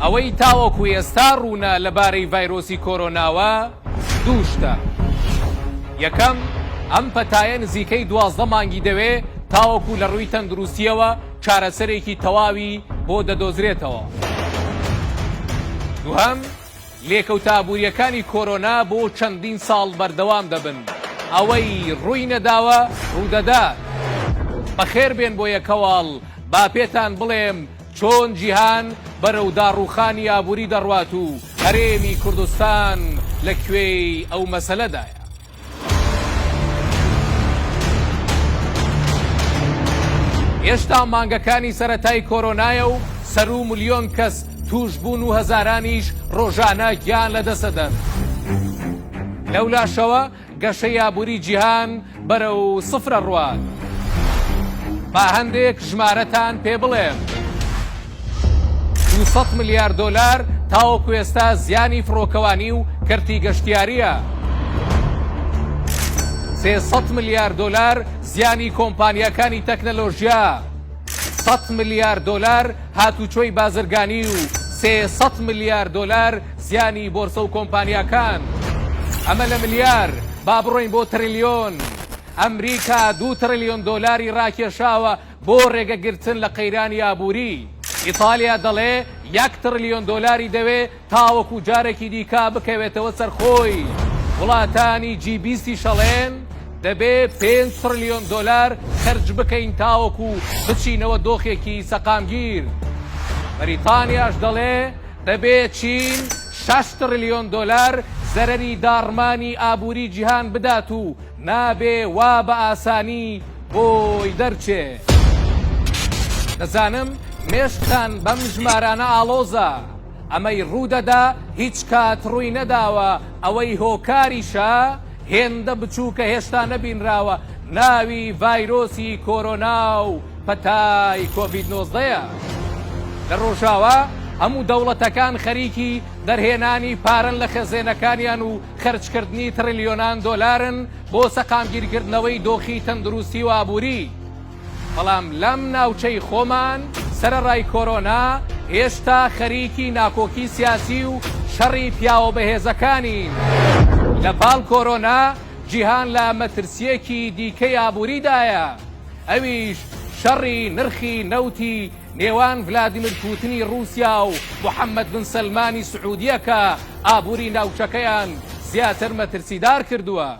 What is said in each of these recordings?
ئەوەی تاوەکو ئێستا ڕوونە لەبارەی ڤایرۆسی کۆرۆناوە دوو شتە یەکەم ئەم پەتایە نزیکەی دوازدە مانگی دەوێ تاوەکو لە ڕووی تەندروستیەوە چارەسەرێکی تەواوی بۆ دەدۆزرێتەوە دووهەم لێکەوتە ئابوورییەکانی کۆرۆنا بۆ چەندین ساڵ بەردەوام دەبن، ئەوەی ڕووی نەداوە ڕوودەدات. بەخێربێن بۆ یەکەواڵ، با پێتان بڵێم چۆن جیهان بەرەو داڕووخانی ئابووری دەڕوات و هەرێمی کوردستان لە کوێی ئەو مەسەلەدایە. هێشتا مانگەکانی سەتای کۆرۆنایە و سەرو ملیۆن کەس توشبوون و هەزارانیش ڕۆژانە گیان لە دەسەدەن. لەولاشەوە گەشە یابووری جیهان بەرە و سفرە ڕوات. با هەندێک ژمارەتان پێ بڵێم. دوو سەد ملیار دۆلار تاوەکو ئێستا زیانی فڕۆکەوانی و کەرتی گەشتیارییە. سێ سەد ملیار دۆلار زیانی کۆمپانیاکانی تەکنەلۆژیا. سەد ملیار دۆلار هاتوچۆی بازرگانی و سێ سەد ملیار دۆلار زیانی بۆرسە و کۆمپانیاکان. ئەمە لە ملیار با بڕۆین بۆ تریلیۆن. ئەمریکا دوو تریلیۆن دۆلاری راکێشاوە بۆ رێگەگرتن لە قەیرانی ئابووری، ئیتالیا دەڵێ یەک تڕلیۆن دۆلاری دەوێ تاوەکو جارێکی دیکە بکەوێتەوە سەر خۆی. وڵاتانی جی بیستیش ئەڵێن دەبێ پێنج تڕلیۆن دۆلار خەرج بکەین تاوەکو بچینەوە دۆخێکی سەقامگیر. بەریتانیاش دەڵێ دەبێ چین شەش تڕلیۆن دۆلار زەرەری داڕمانی ئابووری جیهان بدات و نابێ وا بە ئاسانی بۆی دەرچێ. دەزانم مێشکتان بەم ژمارانە ئاڵۆزە، ئەمەی ڕوو دەدا هیچ کات ڕووی نەداوە، ئەوەی هۆکاریشە هێندە بچووکە هێشتا نەبینراوە، ناوی ڤایرۆسی کۆرۆنا و پەتای کۆڤید نۆزدە یە. لە ڕۆژاوا هەموو دەوڵەتەکان خەریکی دەرهێنانی پارەن لە خەزێنەکانیان و خەرجکردنی تڕلیۆنان دۆلارن بۆ سەقامگیرکردنەوەی دۆخی تەندروستی و ئابووری، بەڵام لەم ناوچەی خۆمان سەرەڕای کۆرۆنا هێشتا خەریکی ناکۆکی سیاسی و شەڕی پیاوە بەهێزەکانین. لە پاڵ کۆرۆنا جیهان لە مەترسییەکی دیکەی ئابووریدایە، ئەویش شەڕی نرخی نەوتی نێوان ڤلادیمیر پوتنی ڕووسیا و محەممەد بن سەلمانی سعوودیە کە ئابووری ناوچەکەیان زیاتر مەترسیدار کردووە.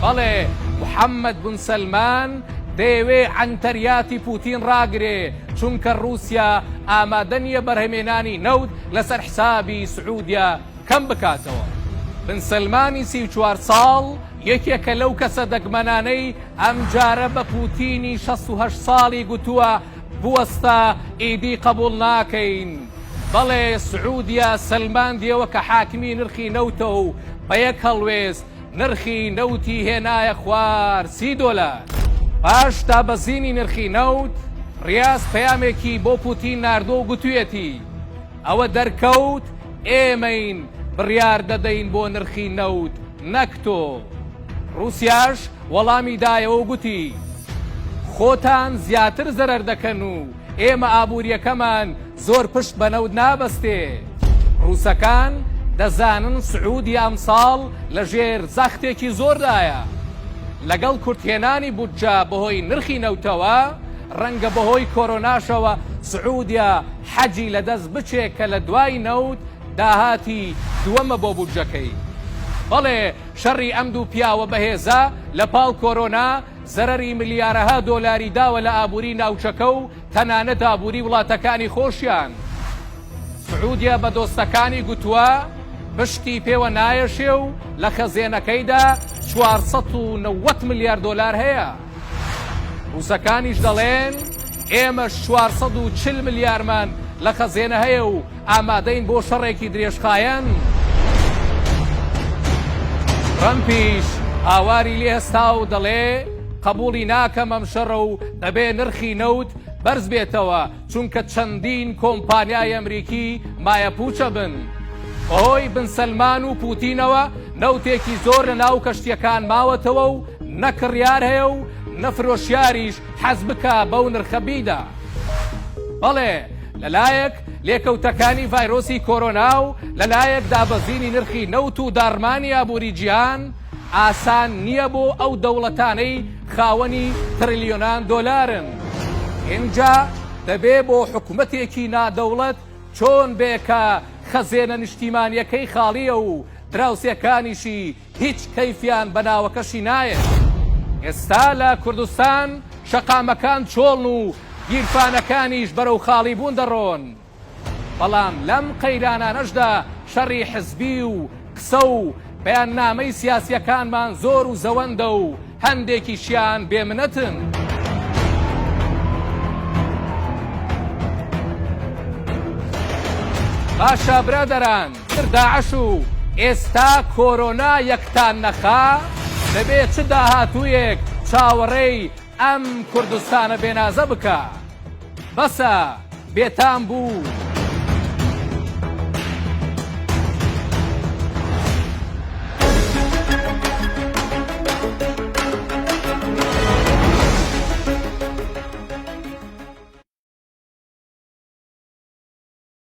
بەڵێ، محەممەد بن سەلمان دەیەوێ عەنتەریاتی پوتین ڕاگرێ، چونکە ڕووسیا ئامادە نییە بەرهەمێنانی نەوت لەسەر حسابی سعوودیە کەم بکاتەوە. بن سەلمانی سی و چوار ساڵ یەکێکە لەو کەسە دەگمەنانەی ئەمجارە بە پوتینی شەست و هەشت ساڵی گوتووە، بوەستە ئیدی قەبوڵ ناکەین. بەڵێ سعودیە سەلماندیەوە کە حاکمی نرخی نەوتە و بە یەک هەڵوێست نرخی نەوتی هێنایە خوار سی دۆلار. پاش دابەزینی نرخی نەوت، ریاز پەیامێکی بۆ پوتین ناردووە و گوتویەتی، ئەوە دەرکەوت ئێمەین بڕیار دەدەین بۆ نرخی نەوت نەک تۆ. روسیاش وەڵامی دایەوە و گوتی، خۆتان زیاتر زەرەر دەکەن و ئێمە ئابوورییەکەمان زۆر پشت بە نەوت نابەستێ. ڕووسەکان دەزانن سعوودیە ئەمساڵ لەژێر زەختێکی زۆردایە. لەگەڵ کورتهێنانی بودجە بەهۆی نرخی نەوتەوە، ڕەنگە بەهۆی کۆرۆناشەوە سعوودیە حەجی لەدەست بچێ کە لە دوای نەوت داهاتی دووەمە بۆ بودجەکەی. بەڵێ، شەڕی ئەم دوو پیاوە بەهێزە لە پاڵ کۆرۆنا زەرەری ملیارەها دۆلاری داوە لە ئابووری ناوچەکە و تەنانەت ئابووری وڵاتەکانی خۆشیان. سعودیە بە دۆستەکانی گوتووە پشکی پێوە نایەشێ و لە خەزێنەکەیدا چوار سەد و نەوەد ملیار دۆلار هەیە. ڕووسەکانیش دەڵێن ئێمەش چوار سەد و چل ملیارمان لە خەزێنە هەیە و ئامادەین بۆ شەڕێکی درێژخایەن. ترەمپیش هاواری لێهستا و دەڵێ، قەبوڵی ناکەم ئەم شەڕە و دەبێ نرخی نەوت بەرزبێتەوە، چونکە چەندین کۆمپانیای ئەمریکی مایەپوچە بن. بەهۆی بن سەلمان و پوتینەوە نەوتێکی زۆر لەناو کەشتیەکان ماوەتەوە و نە کڕیار هەیە و نە فرۆشیاریش حەز بکا بەو نرخە بیدا. بەڵێ لەلایەک لێکەوتەکانی ڤایرۆسی کۆرۆنا و لەلایەک دابەزینی نرخی نەوت و داڕمانی ئابووری جیهان، ئاسان نییە بۆ ئەو دەوڵەتانەی خاوەنی ترلیۆنان دۆلارن. ئینجا دەبێ بۆ حکومەتێکی نادەوڵەت چۆن بێ کە خەزێنە نیشتیمانییەکەی خاڵییە و دراوسێکانیشی هیچ کەیفیان بە ناوەکەشی نایەت. ئێستا لە کوردستان شەقامەکان چۆڵن و گیرفانەکانیش بەرەو خاڵیبوون دەڕۆن. بەڵام لەم قەیرانانەشدا شەڕی حزبی و قسە و بەیاننامەی سیاسییەکانمان زۆر و زەوەندە و، هەندێکیشیان بێ منەتن. باشە برادەران تر داعش و ئێستا کۆرۆنا یەکتان نەخا؟ دەبێ چ داهاتوویەک چاوەڕێی ئەم کوردستانە بێنازە بکا؟ بەسە بێتام بوو.